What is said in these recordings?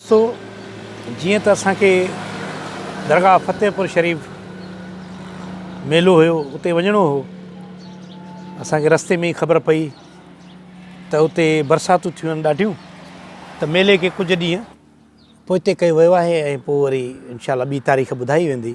سو جيئن ته اسان کي درگاهه فتح پور شريف ميلو هيو اتي وڃڻو هو اسان کي رستي ۾ ئي خبر پئي ته اتي برساتون ٿيون آهن ڏاڍيون ته ميلي کي ڪجهه ڏينهن پوئتي ڪيو ويو آهي ۽ پوء وري انشاء الله ٻي تاريخ ٻڌائي ويندي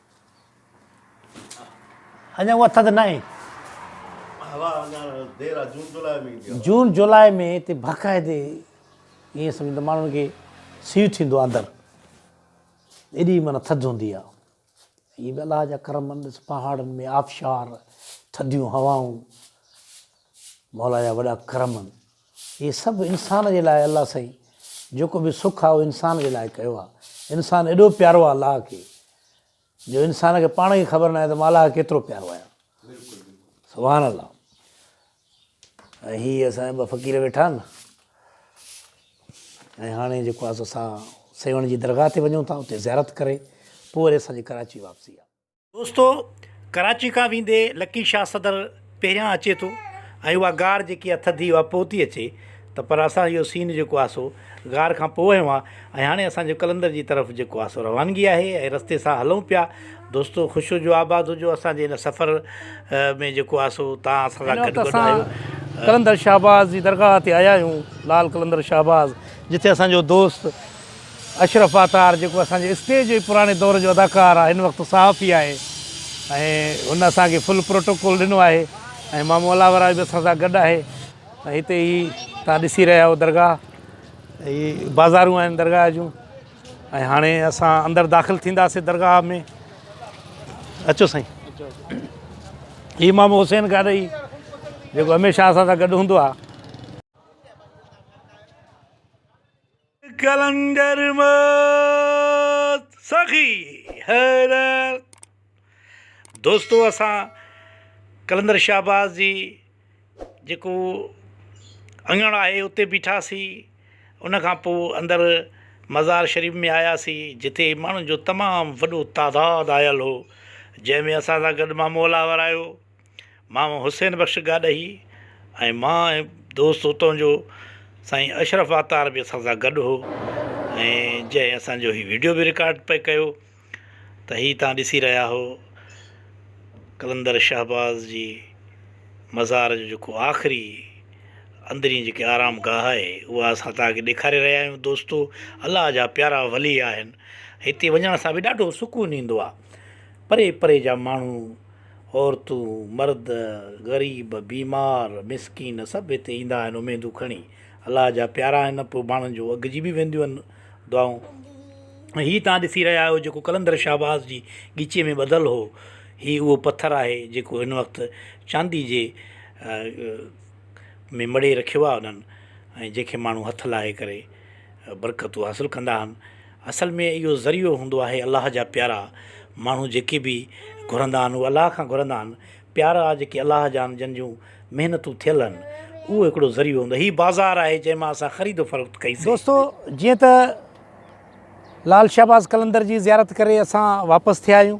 اڃا اها ٿڌ ناهي. هوا اڃا دير آ جون جولاء ۾ ايندي هوا. جون جولاء ۾ هتي باقاعدي ائين سمجهه ته ماڻهن کي سيء ٿيندو آ اندر ايڏي معنيٰ ٿڌ هوندي آ. اهي به الله جا ڪرم آهن ڏس پهاڙن ۾ آبشار ٿڌيون هوائون مولا جا وڏا ڪرم آهن. هي سڀ انسان جي لاء الله سائين جيڪو به سک آ اهو انسان جي لاء ڪيو آ انسان ايڏو پيارو آ الله کي جو انسان کي پاڻ کي خبر ناهي ته مان الله کي ڪيترو پيارو آهيان سبحان الله ۽ هي اسان جا ٻه فقير ويٺا آهن ۽ هاڻي جيڪو آهي سو اسان سيوهڻ جي درگاهه تي وڃون ٿا اتي زيارت ڪري پوء وري اسان جي ڪراچي واپسي آهي دوستو ڪراچي کان ويندي لڪي شاھ صدر پهريان اچي ٿو ۽ اها غار جيڪي آ ٿڌي اها پوء ٿي اچي ته پر اسان اهو سين جيڪو آ سو غار کان پوء اهو آ ۽ هاڻي اسان جو قلندر جي طرف جيڪو آ سو روانگي آهي ۽ رستي سان هلون پيا دوستو خوش هجو آباد هجو اسان جي ان سفر ۾ جيڪو آ سو تان اسان سان گڏ گڏ آهيو قلندر شهباز جي درگاھ تي آيا آهيون لال قلندر شهباز جتي اسان جو دوست اشرف عطار جيڪو اسان جي اسٽيج جي پراڻي دور جو اداڪار آ هن وقت صحافي آهي ۽ هن اسان کي فل پروٽوڪول ڏنو آهي ۽ مامو الاوراء به اسان سان گڏ آهي ۽ هتي هي تان ڏسي رهيا آهيو درگاهه هي بازارون آهن درگاهه جون ۽ هاڻي اسان اندر داخل ٿينداسي درگاهه ۾ اچو سائين هي مامو حسين گاڏهي جيڪو هميشه اسان سان گڏ هوندو آ قلندر موت سخي حيرت دوستو اسان قلندر شهباز جي جيڪو اڱڻ آهي اتي بيٺاسين ان کان پوء اندر مزار شريف ۾ آياسين جتي ماڻهن جو تمام وڏو تعداد آيل هو جنهن ۾ اسان سان گڏ مامو الاور آيو مامو حسين بخش گاڏهي ۽ مان ۽ دوست اتان جو سائين اشرف عطار به اسان سان گڏ هو ۽ جنهن اسانجو هي ويڊيو به رڪارڊ پئي ڪيو ته هي تان ڏسي رهيا هو قلندر شهباز جي مزار جو جيڪو آخري اندرين جيڪي آرام گاهه آهي اها اسان تاکي ڏيکاري رهيا آهيون دوستو الله جا پيارا ولي آهن هتي وڃڻ سان به ڏاڍو سڪون ايندو آهي پري پري جا ماڻهو عورتون، مرد، غريب، بيمار، مسڪين سڀ هتي ايندا آهن اميدون کڻي. الله جا پيارا آهن پوء ماڻهن جون اگهجي به وينديون آهن دعائون. ۽ هي توهان ڏسي رهيا آهيو جيڪو قلندر شهباز جي ڳچيء ۾ ٻڌل هو، هي اهو پٿر آهي جيڪو هن وقت چاندي جي ۾ مڙهي رکيو آهي انهن ۽ جنهن کي ماڻهو هٿ لاهي ڪري برڪتون حاصل ڪندا آهن. اصل ۾ اهو ذريعو هوندو آهي الله جا پيارا ماڻهو جيڪي به گهرندا آهن اهي الله کان گهرندا آهن پيارا جيڪي الله جا آهن جن جون محنتون ٿيل آهن اهو هڪڙو ذريعو هوندو هي بازار آهي جنهن مان اسان خريد و فروخت ڪئي سي. دوستو جيئن ته لعل شهباز قلندر جي زيارت ڪري اسان واپس ٿيا آهيون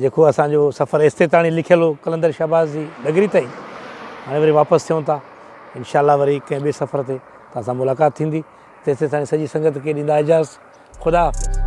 جيڪو اسان جو سفر ايستي تاڻي لکيل هو قلندر شهباز جي ڊگري تائين هاڻي وري واپس ٿيون ٿا انشاء الله وري ڪنهن ٻئي سفر تي تان سان ملاقات ٿيندي تيسي تاڻي سڄي سنگت کي ڏيندا اجازت خدا حافظ